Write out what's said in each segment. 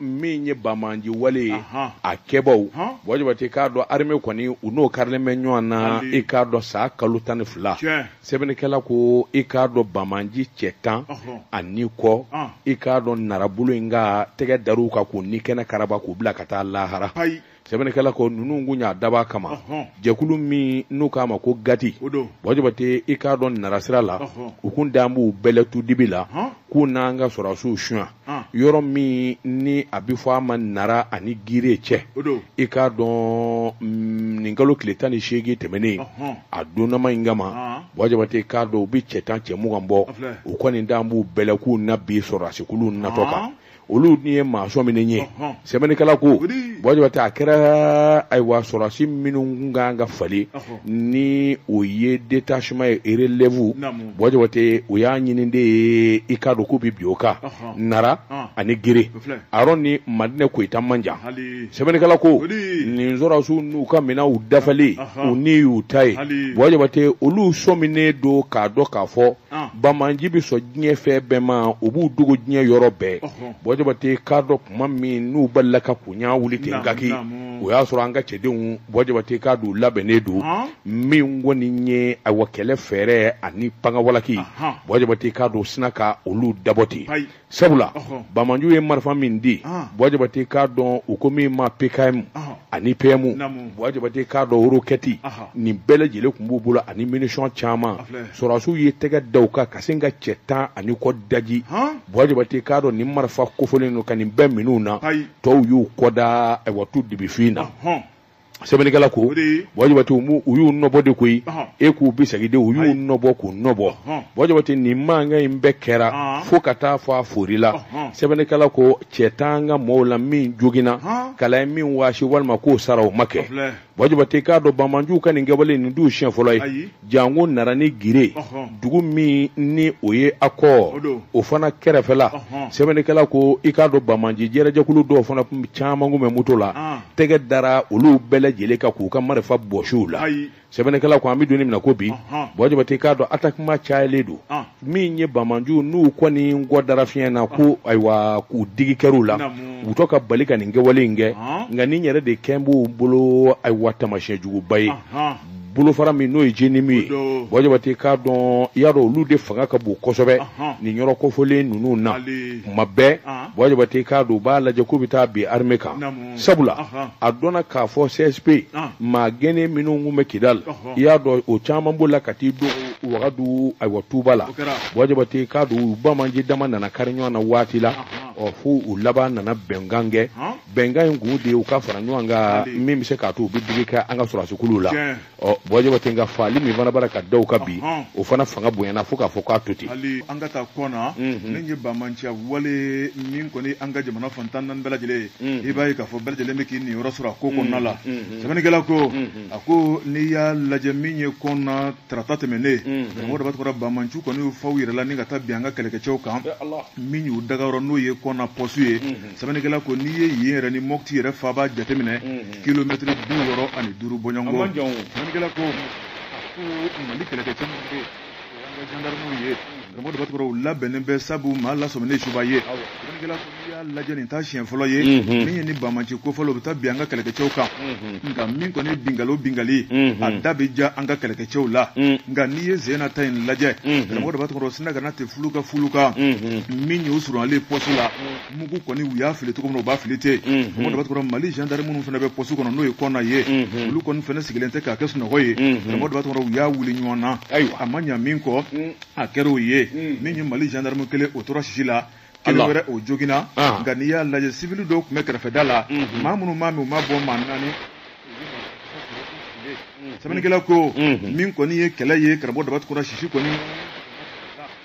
min ye bamanji wale ye a kɛbaw bɔjabate k'a dɔn armée kɔni u n'o karilen bɛ ɲɔgɔn na i k'a dɔn san kalo tan ni fila sɛbɛnnikɛla ko i k'a dɔn bamanji cɛ tan ani kɔ i k'a dɔn nara bolo in kan tɛgɛ dar'u kan k'u ni kɛnɛ karaba k'u bila ka taa lahara sɛbɛnnikɛla ko ninnu kun y'a dab'a kama Ɔhɔn. jɛkulu min n'u k'a ma ko gati O don. bɔjabate i k'a dɔn narasira la Ɔhɔn. u kun dan b'u bɛlɛ tu dibi la Ɔhɔn. k'u n'an ka sɔrɔsiw suɲa Ɔn. yɔrɔ min ni a bɛ fɔ a ma nara ani gire cɛ O don. i k'a dɔn mm, nin kalo tile tan ni seegin tɛmɛnen Ɔhɔn. a donnama in kama Ɔn. bɔjabate k'a dɔn u bɛ cɛ tan cɛ mugan bɔ A filɛ. u kɔni dan b'u bɛlɛ k'u na bin sɔrɔsikulu natɔ kan Ɔn. olu ni ye maa sɔminen ye sɛbɛnnikɛla ko bɔjabate a kɛra ayiwa sɔrɔsi minnu kun kan ka falen ni o ye détachement ye relève bɔjabate o y'a ɲini de ye i k'a dɔn k'u bi bin o kan nara ani gire a yɔrɔ ni madinɛ koyita man jan sɛbɛnnikɛla ko nin sɔrɔsiw n'u ka minɛnw dafalen u ni y'u ta ye bɔjabate olu sɔminen don k'a dɔn k'a fɔ Ah. bamanji bɛ sɔn diɲɛ fɛn bɛɛ ma u b'u dogo diɲɛ yɔrɔ bɛɛ bɔjabate k'a dɔn tuma min n'u balila ka kun y'a wuli ten kaki o y'a sɔrɔ an ka cɛdenw bɔjabate k'a dɔn labɛnnen don ah. min kɔni ye ayiwa kɛlɛ fɛɛrɛ ani pan ka walaki bɔjabate k'a dɔn sinna ka olu dabɔ ten sabula bamanju ye marifa min di bɔjabate k'a dɔn u ko min ma pkm ani pm bɔjabate k'a dɔn roquette nin bɛɛ lajɛlen tun b'u bolo ani munition caman sɔrɔsiw ye tɛgɛ da u kan ka sin ka cɛ tan ani kɔ daji bɔjabate k'a dɔn nin marifa kofɔlen ninnu ka nin bɛɛ minɛ u na tɔw y'u kɔda ayiwa tu dibifin na sɛbɛnnikɛla ko o de ye- bɔjabate u m'u- u y'u nɔbɔ de koyi Ɔhɔn. e k'u bisigi dɛ u y'u Ayi. nɔbɔ k'u nɔbɔ Ɔhɔn. bɔjabate nin mankan in bɛɛ kɛra Ɔhɔn. fo ka taa fɔ a foorila Ɔhɔn. sɛbɛnnikɛla ko cɛ t'an ka mɔɔw la min joginna Ɔhɔn. kala ye min waasi walima k'o sara o ma kɛ Filɛ. bɔjabate k'a dɔn bamanjuw ka nin kɛwale nin t'u siɲɛ fɔlɔ ye Ayi. Jango nara ani gire dugu min ni o ye akɔ o fana kɛrɛfɛla sɛbɛnnikɛla ko i k'a dɔn bamanji jɛkulu dɔw fana caman kun bɛ moto la tɛgɛ dara olu bɛɛ lajɛlen kan k'u ka marifa bɔsi u la sɛbɛnnikɛla ko an bɛ don min na ko bi bɔjabate k'a dɔn attaquement cayalen don min ye bamanji ninnu kɔni kɔ dara fiɲɛ na ko ayiwa k'u digi kɛr'u la u tɔ ka bali ka nin kɛwale in kɛ nka nin yɛrɛ de kɛlen b'u bolo ayiwa tamasiyɛn juguba ye bolofara min n'o ye JNIM ye Bɔ Jabate k'a dɔn i y'a dɔn olu de fanga ka bon kosɛbɛ nin yɔrɔ kofɔlen ninnu na tuma bɛɛ Bɔ Jabate k'a dɔn u b'a lajɛ k'u bɛ taa bin armée kan sabula a dɔnna k'a fɔ CSP maa gɛnnen minnu tun bɛ Kidali i y'a dɔn o caman bɔla ka t'i don Wagadu ayiwa tuba la Bɔ Jabate k'a dɔn u banbaanci dama nana kari ɲɔgɔn na waati la ɔ fo u laban nana bɛnkan kɛ bɛnkan in kun de ye u ka fara ɲɔgɔn kan min bɛ se k'a to u bɛ digi kɛ an ka sɔrɔdasikuluw la ɔ Bɔ Jabate nka faali min fana bara ka da u kan bi o fana fanga bonyana fo k'a fɔ k'a to ten hali an ka taa Kɔna nin ye banbaanciya wale min kɔni an ka jamana fan tan naani bɛɛ lajɛlen ye i b'a ye k'a fɔ bɛɛ lajɛlen bɛ k'i niyɔrɔ sɔrɔ a ko kɔnɔna la sɛbɛnnikɛla ko a ko n'i y'a lajɛ min ye Kɔna tarata tɛmɛnen karamɔgɔ Daba Tunkara banbaanciw kɔni fa u yɛrɛ la ni ka taa bin an ka kɛlɛkɛcɛw kan min y'u dagayɔrɔ n'o ye Kɔna pɔsu ye sɛbɛnnikɛla ko n'i ye yen yɛrɛ ni Mopti yɛrɛ faaba jateminɛ kilomɛtiri bi wɔɔrɔ ani duuru bɔɲɔgɔnko sɛbɛnnikɛla ko ko mali kɛlɛkɛcɛ minnu bɛ yen an ka jandarmew ye karamɔgɔ Daba Tunkara u labɛnnen bɛ sabu maa lasɔminen subaa ye sɛbɛnnikɛla ko n'i y'a lajɛ nin t'a siɲɛ fɔlɔ ye min ye nin banbaanci kofɔlen u bɛ taa bin an ka kɛlɛkɛcɛw kan nka min kɔni ye binkali o binkali a da bɛ ja an ka kɛlɛkɛcɛw la nka n'i ye sen in na ta in lajɛ karamɔgɔ Daba Tunkara sina kana tɛ fulu ka fulu kan min y'o surunalen pɔsi la mugu kɔni u y'a fili cogo min na u b'a fili ten karamɔgɔ Daba Tunkara mali gendarme minnu fana bɛ poste kɔnɔ n'o ye Kɔna ye olu kɔni fana sigilen tɛ k'a kɛ sunɔgɔ ye karamɔgɔ Daba Tunkara u y'a wuli ɲɔgɔn na a ma ɲa min kɔ a kɛra o ye min ye mali gendarme kelen o tora sisi la kelen wɛrɛ o joginna nka n'i y'a lajɛ sivili dɔw tun bɛ kɛrɛfɛda la maa minnu m'a min u ma bɔ maa naani sɛbɛnnikɛla ko min kɔni ye kɛlɛ ye karamɔgɔ Daba Tunkara sisi kɔni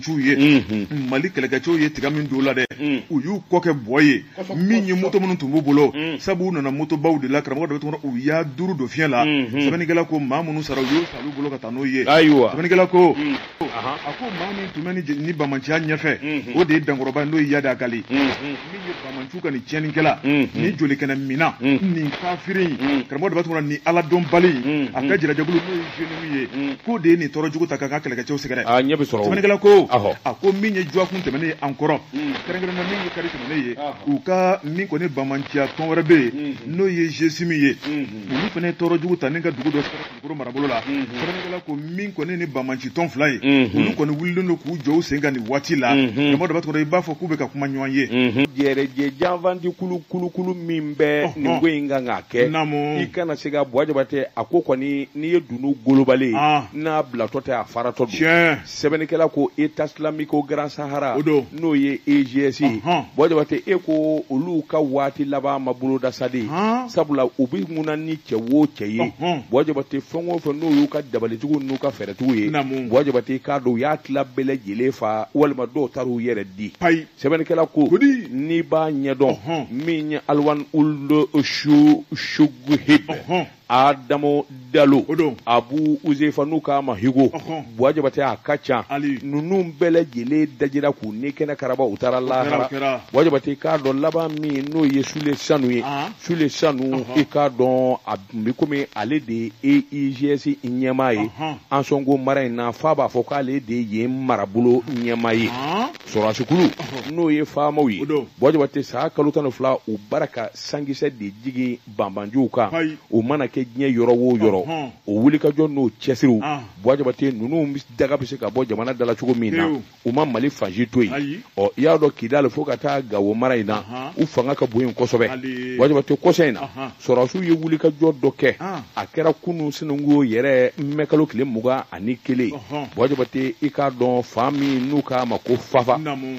banbaanciw ye Mali kɛlɛkɛcɛw ye tiga min don u la dɛ u y'u kɔ kɛ bɔ ye min ye moto minnu tun b'u bolo sabu u nana motobaw de la karamɔgɔ Daba u y'a duuru don fiɲɛ la sɛbɛnnikɛla ko maa minnu sara u y'u ta olu bolo ka taa n'o ye sɛbɛnnikɛla ko a ko maa min tun bɛ nin banbaanciya ɲɛfɛ o de ye dankɔrɔba n'o ye Iyad Ag Ghali banbaanciw ka nin tiɲɛnikɛla mm, mm. nin jolikɛnɛminna mm. nin kafiri in karamɔgɔ Daba Tunkara nin Ala dɔnbali in a ka jɛrɛjɛkulu n'o ye JNIM ye k'o de ye nin tɔɔrɔ jugu ta k'an ka kɛlɛkɛcɛw sɛgɛrɛ ah, sɛbɛnnikɛla ko a ko min ye dɔgɔkun tɛmɛnen ye an kɔrɔ kɛrɛnkɛrɛnna min ye kari tɛmɛnen ye a ko min kɔni banbaanciya tɔn wɛrɛ bɛ yen n'o ye GSIM ye olu fana ye tɔɔrɔ jugu ta ni ka dugu dɔ sɛgɛrɛ kɔrɔ marabolo la sɛbɛnnikɛla ko min kɔni nin banbaanci tɔn fila ye olu kɔni wulilen don k'u jɔ u sen kan nin waati la karamɔgɔ Daba Tunkara i b'a fɔ k'u bɛ ka kuma ɲɔgɔn ye jɛrɛjɛ janfanci kulu kulukulu min bɛ nin ko in kan k'a kɛ i kana se ka Bɔ Jabate a ko kɔni n'i ye dunun golobalen n'a bilatɔ tɛ a faratɔ tiɲɛ sɛbɛnnikɛla ko état islamique grand sahara n'o ye eigs ye buwa jabatɛ e ko olu ka waati laban ma boloda sa di sabula u bɛ ŋuna ni cɛ wo cɛ ye buwa jabatɛ fɛn o fɛn n'o y'u ka dabalitigiw n'u ka fɛɛrɛtigiw ye buwa jabatɛ k'a dɔn u y'a tila bɛɛ lajɛlen fa walima dɔw taara u yɛrɛ di sɛbɛnnikɛla ko n'i b'a ɲɛdɔn min ye alwan ould choghib adamo dalo abu uzefa n'u k'a ma higo buwa jabatɛ a ka ca ninnu bɛɛ lajɛlen dajira k'u ni kɛnɛ karaba u taara lahara buwa jabatɛ k'a dɔn laban min n'o ye sule sanu ye sule sanu i k'a dɔn a bi komi ale de ye eigs ɲɛmaa ye ansɔngo mara in na f'a b'a fɔ k'ale de ye marabolo ɲɛmaa ye sɔrɔsikulu n'o ye famaw ye buwa jabatɛ sa kalo tan ni fila u b'a ra ka sankisɛ de jigin banbanciw kan o mana kɛ diɲɛ yɔrɔ wo yɔrɔ o wulikajɔ n'o cɛsiriw buwa jabate ninnu daga bɛ se ka bɔ jamana dala cogo min na u ma mali fan si to yen ɔ i y'a dɔn kidali fo ka taa gawo mara in na u fanga ka bon yen kosɛbɛ buwa jabate kɔsa in na sɔrɔsiw ye wulikajɔ dɔ kɛ a kɛra kunasinikɔ yɛrɛ mɛkalo tile mugan ani kelen buwa jabate i k'a dɔn fan min n'u k'a ma ko fafa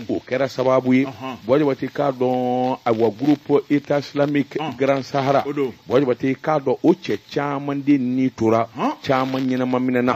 o kɛra sababu ye buwa jabate k'a dɔn awa groupe état islamique grand sahara buwa jabate k'a dɔn o cɛ caman de ni tora caman ɲɛnama minɛna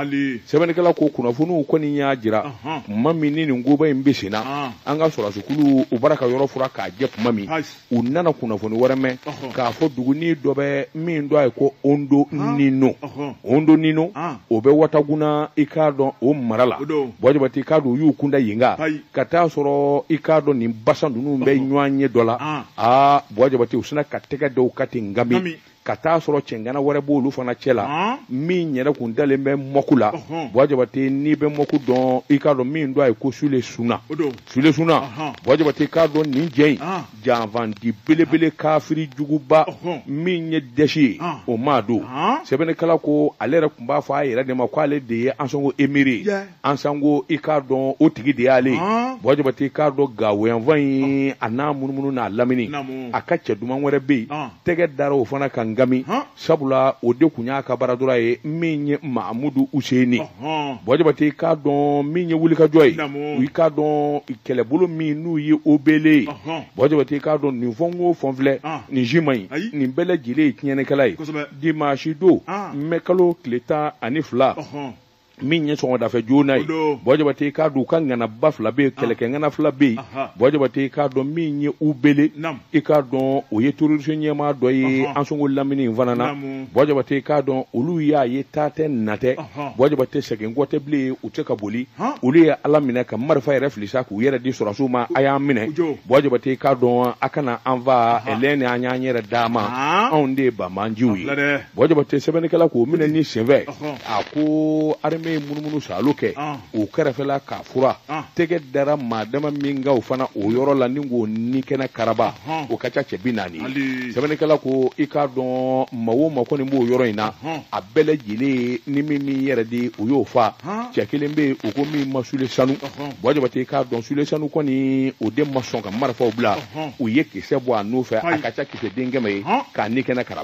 sɛbɛnnikɛla ko kunnafoniw kɔni y'a jira tuma min ni nin koba in bɛ senna an ka sɔrɔsikulu u b'a ra ka yɔrɔ furan k'a jɛ tuma min u nana kunnafoni wɛrɛ mɛn k'a fɔ duguni dɔ bɛ min tɔgɔ ye ko ondo nino ondo nino o bɛ wataguna i k'a dɔn o mara la buwa jabate i k'a dɔn u y'u kunda yen kan ka t'a sɔrɔ i k'a dɔn nin basa ninnu bɛ ɲɔgɔnye dɔ la aa buwa jabate u sinna ka tɛgɛ d'u kan ten ngami ka taa sɔrɔ cɛngana wɛrɛ b'olu fana cɛ la min yɛrɛ kun dalen bɛ mɔku la buwa jabate n'i bɛ mɔku dɔn i k'a dɔn min tɔgɔ ye ko sule suna sule suna buwa jabate k'a dɔn nin jɛ in janfanci belebele kafiri juguba min ye dɛsi ye o maa don sɛbɛnnikɛla ko ale yɛrɛ tun b'a fɔ a yɛrɛ de ma k'ale de ye ansɔngo emiri ye ansɔngo i k'a dɔn o tigi de y'ale ye buwa jabate i k'a dɔn gawoyanfan in a n'a munumunu n'a lamini a ka cɛ duman wɛrɛ bɛ yen tɛgɛ dara o fana kan ngami sabula o de tun y'a ka bras droit ye min ye mahamudu useni buwa jabate i k'a dɔn min ye wulikajɔ ye i k'a dɔn kɛlɛbolo min n'u ye o beele ye buwa jabate i k'a dɔn nin fɛn o fɛn filɛ nin si man ɲi nin bɛɛ lajɛlen ye tiɲɛnikɛla ye dimanche don mɛkalo tile tan ani fila min ye sɔgɔmadafɛ joona ye bɔn jabate k'a dɔn u ka ŋanaba fila bɛ yen ah. kɛlɛkɛ ŋana fila bɛ yen bɔn jabate k'a dɔn min ye ubele i k'a dɔn o ye terroriste ɲɛmaa dɔ ye ansongo lamini in fana na bɔn jabate k'a dɔn olu y'a ye taa tɛ na tɛ bɔn jabate segin kɔ tɛ bilen u tɛ se ka boli olu ye ala minɛ ka marifa yɛrɛ fili sa k'u yɛrɛ di sɔrɔdasiw ma a y'an minɛ bɔn jabate k'a dɔn a kana an fa filɛ nin an y'an yɛrɛ d'a ma anw de ye banbaanciw ye bɔn jabate sɛbɛnnikɛla ko minɛni senfɛ a ko armée ye munumunu salo kɛ o kɛrɛfɛla k'a furan tɛgɛ dara maa dama min kan o fana o yɔrɔ la ni k'o ni kɛnɛ karaba o ka ca cɛ bi naani sɛbɛnnikɛla ko i k'a dɔn maa o maa kɔni b'o yɔrɔ in na a bɛɛ lajɛlen ni min m'i yɛrɛ di o y'o fa cɛ kelen bɛ yen o ko min ma sule sanu bɔn jabate k'a dɔn sule sanu kɔni o den ma sɔn ka marifaw bila u ye kisɛ bɔ a nɔfɛ a ka ca kisɛ den kɛmɛ ye k'a ni kɛnɛ karaba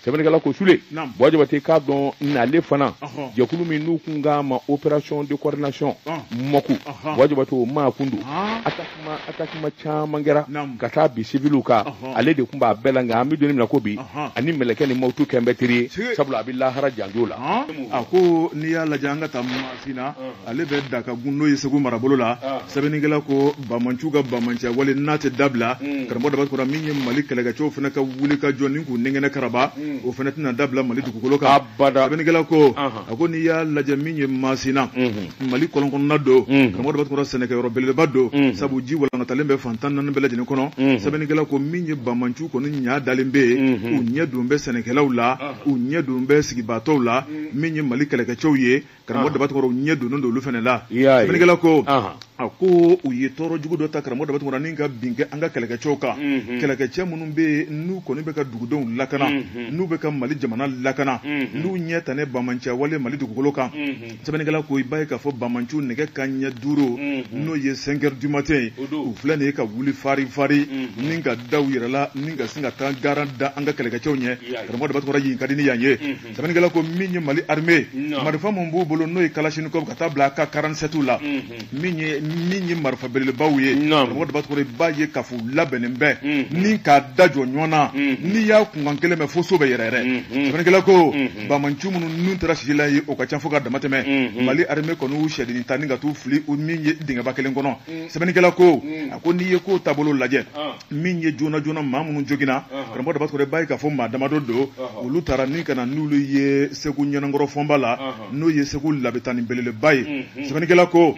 sɛbɛnnikɛla ko sule bɔ jabate k'a dɔn n'ale fana jɛkulu min n'u kun k'a ma opération de coordination mɔku bɔ jabate o maa kun don attaquement caman kɛra ka taa bin siviliw kan ale de tun b'a bɛɛ la nka an bɛ don min na ko bi a ni mɛlɛkɛnin mawutu kɛlen bɛ teri ye sabula a bɛ lahara janjo la a ko n'i y'a lajɛ an ka taa Sina ale bɛ dakagun n'o ye segu marabolo la sɛbɛnnikɛla ko banbaanciw ka banbaanciya wale n'a tɛ dabila karamɔgɔ daba tunkara min ye mali kɛlɛkɛcɛw fana ka wuli ka jɔ ni k'u ni kɛnɛ karaba o fana tɛna dabila mali dugukolo kan sɛbɛnnikɛla ko a ko n'i y'a lajɛ min ye masina mali kɔlɔn kɔnɔna don karamɔgɔ daba tunkara sɛnɛkɛyɔrɔ belebeleba don sabu ji walangatalen bɛ fan tan ni naani bɛɛ lajɛlen kɔnɔ sɛbɛnnikɛla ko min ye banbaanciw kɔni ɲaa dalen bɛ yen u ɲɛ don bɛ sɛnɛkɛlaw la u ɲɛ don bɛ sigibaatɔw la min ye mali kɛlɛkɛcɛw ye karamɔgɔ ah. daba tunkara u ɲɛ donnen don olu fana la sɛbɛnnikɛla ko ah. a ko u ye tɔɔrɔ jugu dɔ ta karamɔgɔ daba tunkara ni ka bin an ka kɛlɛkɛcɛw kan mhm. kɛlɛkɛcɛ minnu bɛ yen n'u kɔni bɛ ka dugudenw lakana mhm. n'u bɛ ka mali jamana lakana mhm. n'u ɲɛ tan ne banbaanciya wale mali dugukolo kan sɛbɛnnikɛla ko i b'a ye k'a fɔ banbaanciw nɛgɛ kanɲɛ duuru n'o ye cinq heures du matin ye u filɛ nin ye ka wuli fari fari ni ka da u yɛrɛ la ni ka sin ka taa garan da an ka kɛlɛkɛcɛw ɲɛ karamɔgɔ daba tunkara yen ka di ni yan ye sɛbɛnnikɛla ko min ye mali armée marifa min b'u bolo n'o ye kalashnikov ka taa bila AK 47 la min ye min ye marifa belebelebaw ye karamɔgɔ daba tunkara i b'a ye k'a fɔ u labɛnnen bɛ ni k'a da jɔ ɲɔgɔn na n'i y'a kunkan kelen mɛn fo so bɛ yɛrɛyɛrɛ sɛbɛnnikɛla ko banbaanci minnu n'u tora sisi la ye o ka ca fo ka damatɛmɛ mali armée kɔni y'u sɛdennin ta ni ka t'u fili min ye dingɛba kelen kɔnɔ sɛbɛnnikɛla ko a ko n'i ye kow taabolo lajɛ min ye joona joona maa minnu joginna karamɔgɔ daba tunkara i b'a ye k'a fɔ maa damadɔ don olu taara ni ka na n'olu ye segu ɲɛnankɔrɔ fɔnba la n'o ye segu labitani belebeleba ye sɛbɛnnikɛla ko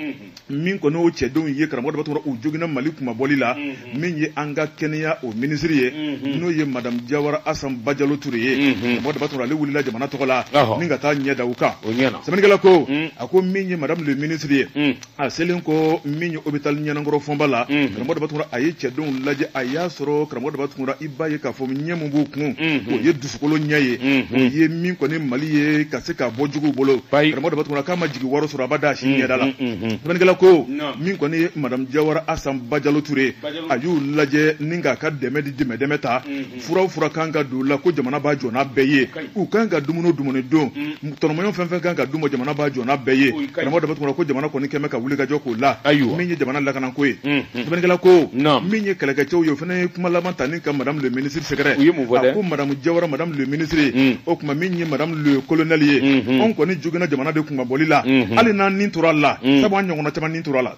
min kɔni o cɛdenw ye karamɔgɔ daba tunkara u joginna mali kunmabɔli la min ye an ka kɛnɛya o minisiri ye n'o ye madamu jawara asan bajalo ture ye karamɔgɔ daba tunkara ale wulila jamana tɔgɔ la ni ka taa ɲɛ da u kan sɛbɛnnikɛla ko a ko min ye madame le ministre ye a selen kɔ min ye hôpital ɲɛnankɔrɔ fɔnba la mhm. karamɔgɔ daba tunkara a ye cɛdenw lajɛ a y'a sɔrɔ karamɔgɔ daba tunkara i b'a ye k'a fɔ ɲɛ min b'u kun mhm. o ye dusukolo ɲɛ ye mhm. o ye min kɔni mali ye ka se ka bɔ juguw bolo karamɔgɔ daba tunkara k'a ma jigiwaaro sɔrɔ abada a si ɲɛda la sɛbɛnnikɛla ko min kɔni ye madamu jawara asan bajalo ture a y'u lajɛ ni k'a ka dɛmɛ di dɛmɛ dɛmɛ ta furaw fura kan ka don la ko jamana b'a jɔ n'a bɛɛ ye u kan ka dumuni dumuni dun mm. tɔnɔmɔɲɔ fɛn fɛn kan ka d'u ma jamana b'a jɔ n'a bɛɛ ye karamɔgɔ daba tunkara ko jamana kɔni kɛmɛ ka wuli ka jɔ k'o la min ye jamana lakanako ye mm, mm. sɛbɛnnikɛla ko min ye kɛlɛkɛcɛw ye o fana ye kuma laban ta ni ka madame le ministre sɛgɛrɛ a ko madamu jawara madame le ministre o kuma min ye madame le colonel ye mm-hmm. anw kɔni joginna jamana de kunmabɔli la mm-hmm. hali n'an ni tora la sabu an ɲɔgɔnna caman ni tora la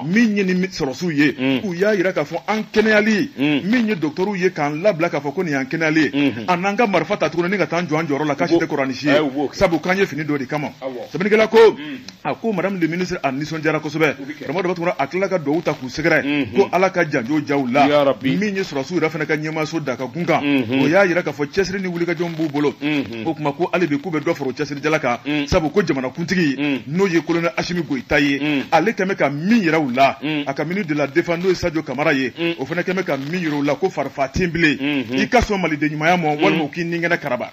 min ye ni sɔrɔsiw ye mm. u y'a yira k'a fɔ an kɛnɛyali mm. min ye docteurw ye k'an labila k'a fɔ ko nin y'an kɛnɛyali ye mm-hmm. an n'an ka marifa ta tuguni ni ka taa an jɔ an jɔyɔrɔ la k'a si tɛ kɔrɔnisi ye eh, sabu k'an ye fini don o de kama sɛbɛnnikɛla ko mm. a ko madame le ministre a nisɔndiyara kosɛbɛ karamɔgɔ daba tunkara a tilala ka duwawu ta k'u sɛgɛrɛ mm-hmm. ko ala ka janjo jaw la min ye sɔrɔsiw yɛrɛ fana ka ɲɛmaaso da ka kun kan mm-hmm. o y'a yira k'a fɔ cɛsiri ni wulikajɔw b'u bolo o kuma ko hali bi k'u bɛ dɔ fara cɛsirijala kan sabu ko jamanakuntigi n'o ye colonel asimi goyita ye ale kɛmɛ ka min yira u la a ka ministre de la défense n'o ye sajɔ kamara ye o fana kɛmɛ ka min yira u la ko farifaga tɛ bilen i ka sɔn maliden ɲumanya ma walima u k'i ni kɛnɛ karaba